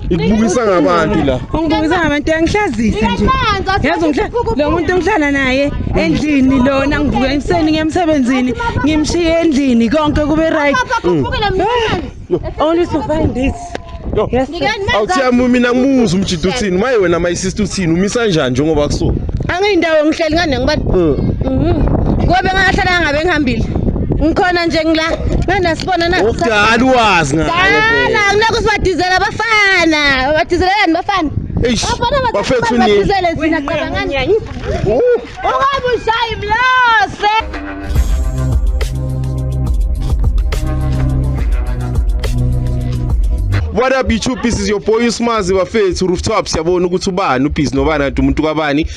ikubukisa ngabantu la ungibukisa ngabantu yangihlazisa nje yazi lo muntu engihlala naye endlini lona ngivuka emseni ngiyemsebenzini ngimshiye endlini konke kube right only to find this awuthiyami mina ngimuza umjida uthini maye wena my sister uthini umisa njani njengoba kusuka angiyindawo ngihleli ngane ngibani hmm. mhm. ngobe ngahlala ngabe ngihambile ngikhona nje ngila nganasibona na ukudala uwazi ngala akunako sibadizela abafana badizelelani bafana bafethu ni badizele thina cabangani ungabe ushayi mlose What up YouTube, this is your boy Usmazi bafethu Rooftop siyabona ukuthi ubani ubhizi nobani umuntu kabani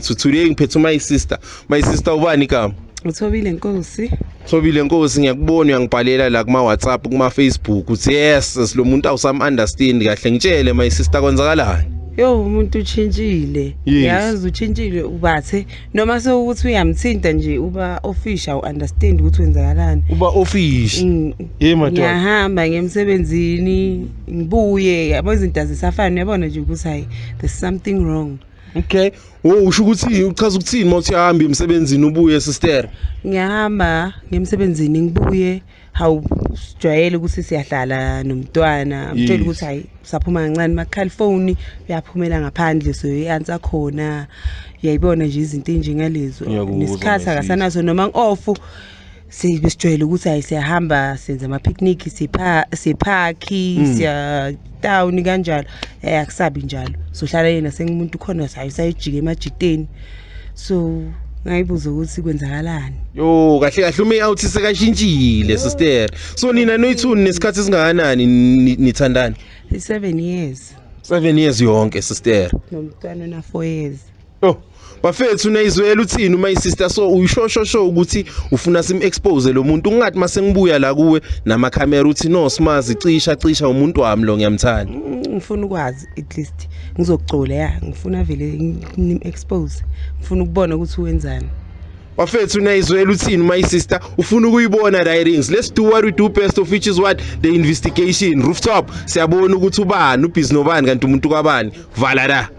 So today ngiphethe my sister. My sister ubani igama? Uthobile Nkosi. Thobile Nkosi ngiyakubona uyangibhalela la kuma WhatsApp kuma Facebook uthi yes silomuntu awusam understand kahle ngitshele my sister kwenzakalani? Yo umuntu uchintshile. Yes. Yazi uchintshile ubathe noma sewukuthi uyamthinta nje uba official u understand ukuthi wenzakalani. Uba official. Mm. Hey madoda. Ngiyahamba ngemsebenzini ngibuye yabo izinto azisafani uyabona nje ukuthi hayi there's something wrong. Okay. Wo usho ukuthi uchaza ukuthini mawuthi hamba emsebenzini ubuye sister? Ngiyahamba ngemsebenzini ngibuye hawu sijwayele ukuthi siyahlala nomntwana mtshela ukuthi hayi saphuma kancane makhala ifoni uyaphumela ngaphandle so i-answer khona uyayibona nje izinto enjengalezo Ngiyakuzwa, nesikhathi my sis. akasanaso noma ngi-off sibe sijwayele ukuthi hayi siyahamba senza ama-picnic siphakhi mm. siyatawuni kanjalo um akusabi njalo sohlala yena sengumuntu khona hayi sayojika emajiteni so ngayibuza ukuthi kwenzakalani yo kahle kahle ume out sekashintshile sister so nina noyithuni nesikhathi singakanani nithandana i-seven years seven years yonke sister nomntwana ona-four years Oh, bafethu nayizwela uthini uma isister so uyishosho sho ukuthi ufuna sim expose lo muntu ungathi mase ngibuya la kuwe nama camera uthi no smazi cisha cisha umuntu wami lo ngiyamthanda. Ngifuna ukwazi at least ngizocula ya ngifuna vele ngim expose ngifuna ukubona ukuthi wenzani. bafethu nayizwela uthini my sister ufuna ukuyibona the rings let's do what we do best of which is what the investigation rooftop siyabona ukuthi ubani ubhizi nobani kanti umuntu kwabani vala la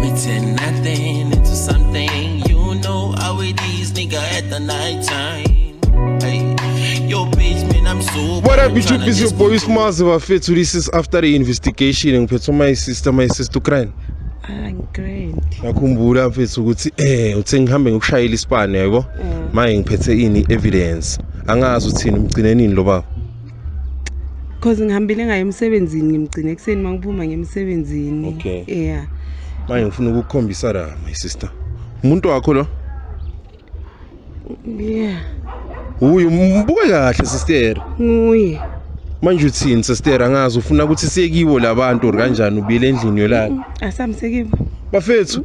We turn nothing into something. You know how it is, nigga, at the night time. What up YouTube is your boy Smazi bafethu this is after the investigation ngiphethe my sister my sister Ukraine Angigrendi. Ah, Ngakhumbula mfethu ukuthi eh uthe ngihambe ngokushayela isibani yabo. Mm. Manje ngiphethe ini evidence. Angazi uthini umgcinenini lo baba. cause ngihambile ngayo emsebenzini ngimgcine ekuseni uma ngiphuma ngemsebenzini okay. yeah manje ngifuna ukukhombisa la my sister umuntu wakho lo yeah uyu mbuke kahle sister nguye manje uthini sister angazi ufuna ukuthi siyekiwo labantu or kanjani ubile endlini yolala asamsekibo bafethu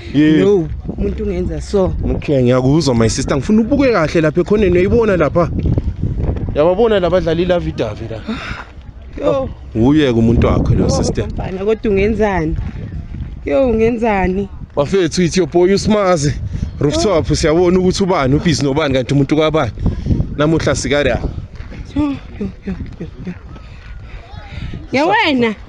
Yeah. No, umuntu ungenza so. Okay, ngiyakuzwa my sister. Ngifuna ubuke kahle lapha ekhoneni uyibona lapha. Yababona labadlali la Vidavi la. Yo. Uyeke umuntu wakho lo sister. Mfana kodwa ungenzani? Yo ungenzani? Bafethu ithi yoboy usimazi. Rooftop oh. siyabona ukuthi ubani ubhizi nobani kanti umuntu kwabani. Namuhla sikara. Yo yo yo. Yawena.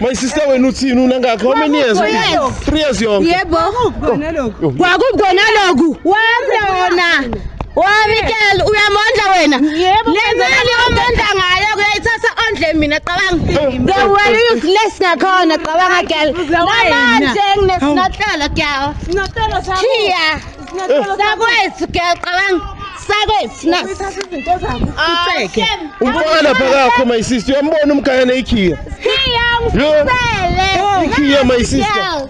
My sister wena uthini unangakho how many years? 3 years yonke. Yebo. Kona lokhu. Kwakukona lokhu. Wamlona. Wamikela uyamondla wena. Lezali omondla ngayo kuyayithatha ondle mina qabanga. The way you flesh ngakhona qabanga girl. Namanje nginesinahlala girl. Sinahlala sakho. Chiya. Sinahlala sakho. Sakwethu girl qabanga. sakwethu na Uthatha izinto zakho uceke. Umfana lapha kakho my sister uyambona umgaya neikhiya. Yo. Ikhiya my sister.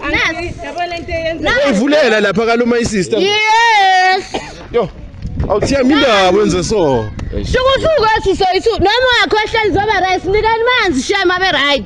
Yabona into eyenza Uyivulela lapha kalo my sister. Yes. Yo. Awuthiya mindaba wenze so. Shukusuku esisoyisu noma wakho ehleli zoba right nikani manzi shema be right.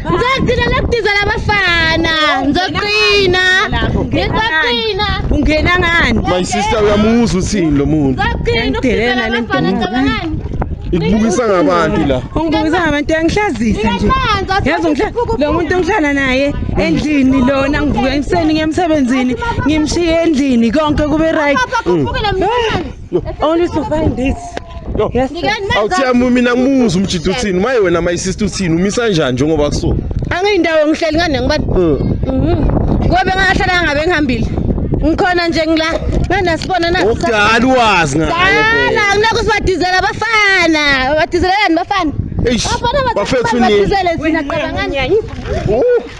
Ngizogcina lokudizela abafana. Ngizogcina. Ngizogcina. Ungena ngani? My sister uyamuzwa uthini lo muntu. Ngizogcina ukudizela abafana ngicabangani? ikubukisa ngabantu la ungibukisa ngabantu yangihlazisa nje yazi lo muntu engihlala naye endlini lona ngivuka ekuseni ngemsebenzini ngimshiye endlini konke kube right Only to find this. Yo. Yes. Awuthiya mina ngumuzi umjida uthini? Maye wena my sister uthini? Umisa njani njengoba kuso? Angiyindawo ngihleli ngane ngibani? Hmm. Mhm. Ngobe ngahlala ngabe ngihambile. Ngikhona nje ngila. Ngana sibona na. Ukudala uwazi ngayo. Dala kunako sibadizela abafana. Badizelelani bafana? Eish. Bafethu ni. Bafethu ni.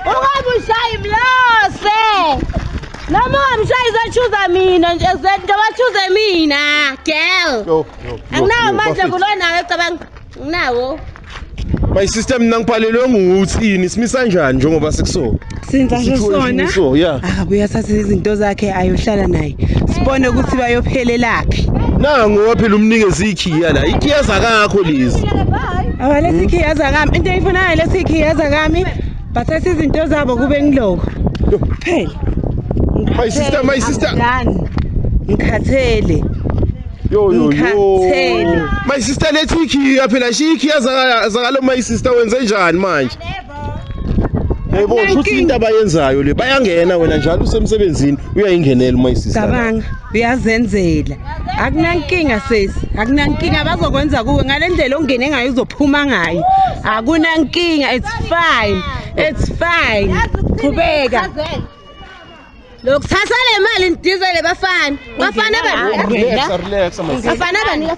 Ungabushaya imlose. Noma ungamshayi uzochuza mina nje zento bachuze mina girl. Yo, yo. Anginawo manje kulona wecabanga. Nginawo. My sister mina ngiphalelwe nguthini simisa njani njengoba sikuso. Sinza nje sona. So yeah. Akabuye ah, athathe izinto zakhe ayohlala naye. Sibone ukuthi bayophelelaphi. Nango waphela umnikezi ikhiya la. Ikhiya zakakho lezi. Awalethi ikhiya zakami. Into eyifunayo lethi ikhiya zakami. bathatha izinto zabo kube ngiloko kuphela my sister my sister ngikhathele yo yo ngikhathele my sister lethi ikhiya phela shiya ikhiya zakalo my sister wenze njani manje yebo shuthi into abayenzayo le bayangena wena njalo usemsebenzini uyayingenela my sister cabanga uyazenzela akunankinga sesi akunankinga bazokwenza kuwe ngale ndlela ongene ngayo uzophuma ngayo akunankinga it's fine it's fine qhubeka lokuthatha le mali ndidizele bafana bafana bafana bafana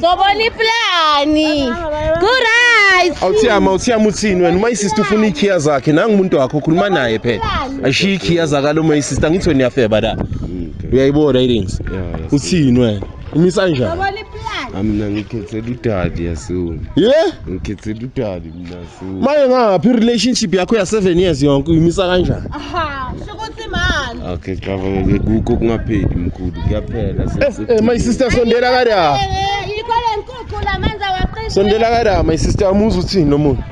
sobona iplani kurit awuthiyama awuthiyama uthini wena uma isista ufuna iikhiya zakhe nangu umuntu wakho ukhuluma naye phela ashiye iikhiya zakalo uma isista ngithi wena uyafeba la uyayibona irings uthini wena umisa njani sobona iplani mina ngikhethela udali yasona ye ngikhethela udali maye ngaphi i-relationship yakho ya-seven years yonke uyimisa kanjani okay cabanga-ke kukho kungapheli mkhulu kuyaphela eh, eh, my sister sondela kada sondela kada my sister amuzi uthini lo muntu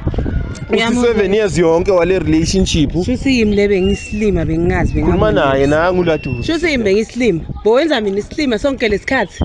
uthi-seven years yonke wale relationship shuthi yimi le bengisilima bengingazi bengikhuluma naye nangu laduza shuthi yimi bengisilima bowenza mina isilima sonke lesikhathi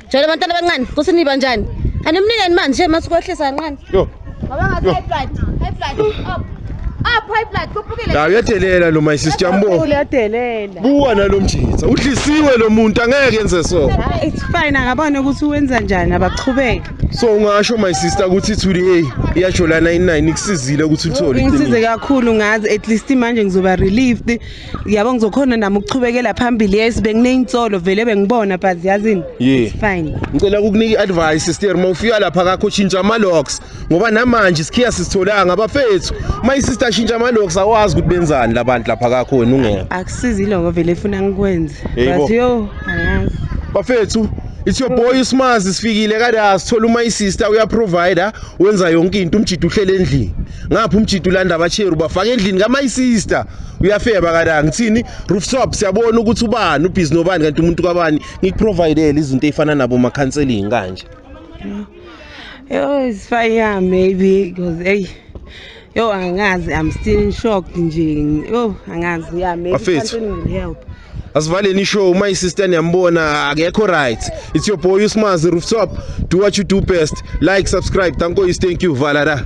Jolo bantwana abancane, kusiniba njani? Animnikeni manje nje masikwehlisa kancane. Yo. Ngoba ngathi high blood, high blood up. Up high blood kuphukile. La uyadelela lo my sister mbo. Uyadelela. Buwa nalomjitha. Udlisiwe lo muntu angeke enze so. Ah, it's fine akabone ukuthi uwenza njani abachubeke. So ungasho my sister ukuthi ithuli hey iyajolana inini ikusizile ukuthi uthole. Ngisize kakhulu ngazi at least manje ngizoba relieved. yabo ngizokhona nami ukuchubekela phambili yes bengineyinsolo vele bengibona but yazini yeah. fine ngicela ukukunika i-advice sister uma ufika lapha kakho shintsha ama-locks ngoba namanje isikhiya sisitholanga abafethu uma isister shintsha ama-locks awazi ukuthi benzani labantu lapha kakho wena ungona akusizi iloko vele efuna ngikwenze but yo angazi bafethu it's your boy usimazi sifikile kada sithola uma isister uyaprovider wenza yonke into umjida uhlele endlini ngapha umjida ulanda abacheru bafaka endlini kama isister uyafeba kala ngithini rooftop siyabona ukuthi ubani ubhizi nobani kanti umuntu kabani ngikuprovidele izinto ey'fana nabo ma-counseling kanje yo it's fine yeah maybe because eyi yo angazi i'm still in shock nje yo angazi yeah maybe Bafethu. something will help asivaleni ishow uma isister niyambona akekho right it's your boy usmazi rooftop do what you do best like subscribe thank you thank you valada